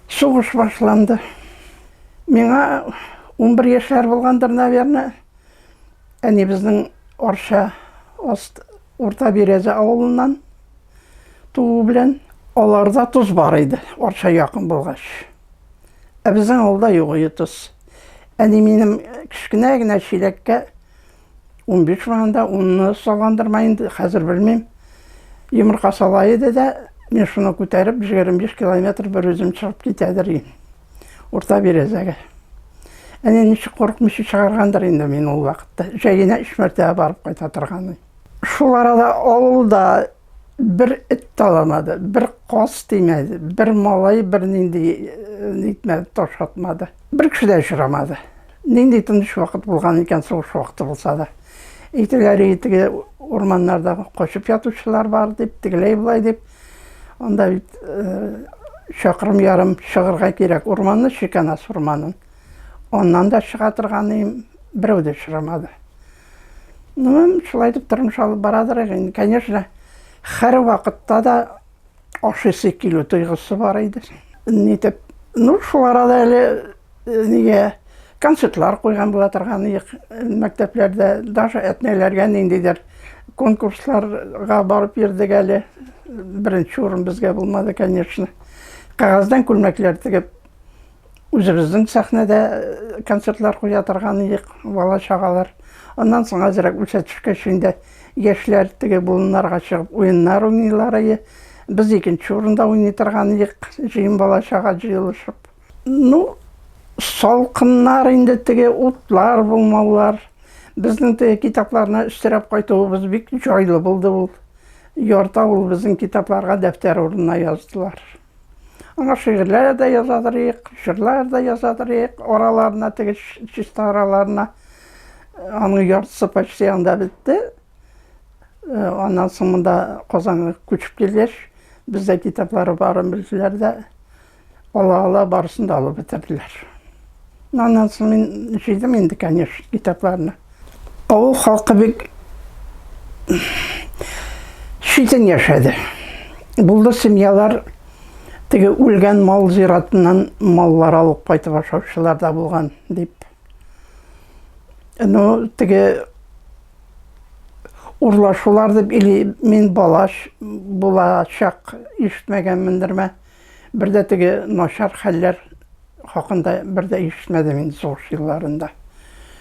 Сугыш башланды. Миңа унбер яшьләр булгандыр, наверное. Әнибезнең Арча аст Урта Бирәзә авылыннан туу белән аларда тоз бар иде, Арча якын булгач. Ә безнең авылда юк иде тоз. Әни минем кечкенә генә чиләккә 15 маңында унны саландырма инде, хәзер белмим. Йомырка сала иде дә, мин шуны күтәреп 25 километр бер үзем чыгып китәдер ин. Урта березәгә. Әне ничек курыкмыйча чыгаргандыр инде мин ул вакытта. Җәенә өч мәртәбә барып кайта торган. Шул арада авылда Бер эт таламады, бер каз тимәде, бер малай бер нинди нитмәде, таш атмады. Бер кеше дә очрамады. Нинди тыныч вакыт булган икән сугыш вакыты булса да. Әйтеләре итеге урманнарда качып ятучылар бар дип, тегеләй болай дип. Анда бит чакрым ярым чыгырга кирәк урманны, Шиканас урманын. Аннан да чыга торган берәү дә очрамады. Ну, шулай итеп тормыш алып барадыр инде. Конечно, һәр вакытта да ашыйсы килү тойгысы бар иде. Нитеп, ну, шул арада әле э, нигә концертлар куйган була торган ек мәктәпләрдә, даже әтнәләргә ниндидер конкурсларга барып йөрдек әле. Беренче урын безгә булмады, конечно. Кагаздан күлмәкләр тегеп Үзебезнең сәхнәдә э, концертлар куя торган идек, бала чагалар. Аннан соң азрак үсә төшкәч инде яшьләр теге болыннарга чыгып уеннар уйныйлар иде. Без икенче урында уйный торган идек, җыен бала чага җыелышып. Ну, салкыннар инде теге утлар булмаулар. Безнең теге китапларны өстерәп кайтуыбыз бик җайлы булды ул. Ярта ул безнең китапларга дәфтәр урынына яздылар. Аңа шигырьләр дә язадырыйк, җырлар да язадырыйк, араларына теге чиста араларына аның яртысы почти анда бетте. Э, аннан соң монда Казанга күчеп килгәч, бездә китаплары барын белделәр дә, ала-ала барысын да алып бетерделәр. Аннан соң мин җыйдым инде, конечно, китапларны. Авыл халкы бик читен яшәде. Булды семьялар теге үлгән мал зиратыннан маллар алып кайтып ашаучылар да булган дип. Ну, теге урлашулар дип или мин балаш булачак ишетмәгәнмен дөрмә. Бер дә теге начар хәлләр хакында бер дә ишетмәдем мин сугыш елларында.